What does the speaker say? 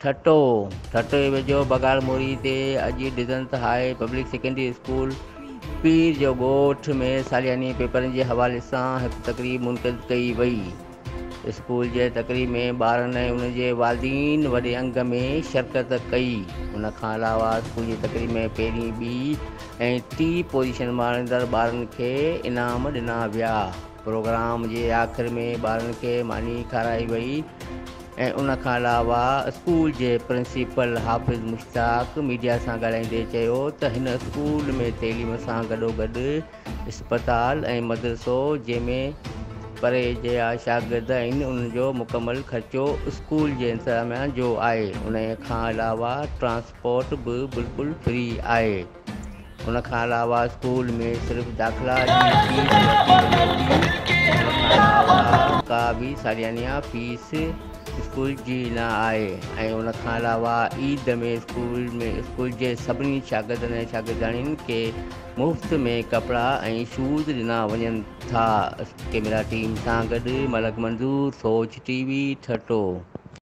ٺٽو، ٺٽو جي ويجهو بگهار موري تي اڄ ڊزنس high public secondary school Pir جو ڳوٺ ۾ سالياني پيپرن جي حوالي سان هڪ تقريب منعقد ڪئي وئي. اسڪول جي تقريب ۾ ٻارن ۽ انهن جي والدين وڏي انگ ۾ شرڪت ڪئي. ان کان علاوه اسڪول جي تقريب ۾ پهرين، ٻي ۽ ٽي پوزيشن ماڻيندڙ ٻارن کي انعام ڏنا ويا. پروگرام جي آخر ۾ ٻارن کي ماني کارائي وئي. ۽ ان کان علاوه اسڪول جي پرنسپل حافظ مشتاق ميڊيا سان ڳالهائيندي چيو ته هن اسڪول ۾ تعليم سان گڏوگڏ اسپتال ۽ مدرسو جنهن ۾ پري جيا شاگرد آهن ان جو مڪمل خرچو اسڪول جي انتظاميا جو آهي انهي کان علاوه ٽرانسپورٽ به بلڪل فري آهي. ان کان علاوه اسڪول ۾ صرف داخلا جي فيس ورتي وڃي ٿي ان کان علاوه ڪا به ساليانه فيس اسڪول جي نه آهي ۽ ان کان علاوه عيد ۾ اسڪول ۾ اسڪول جي سڀني شاگردن ۽ شاگردياڻين کي مفت ۾ ڪپڙا ۽ شوز ڏنا وڃن ٿا ڪيميرا ٽيم سان گڏ ملڪ منظور سوچ ٽي وي ٺٽو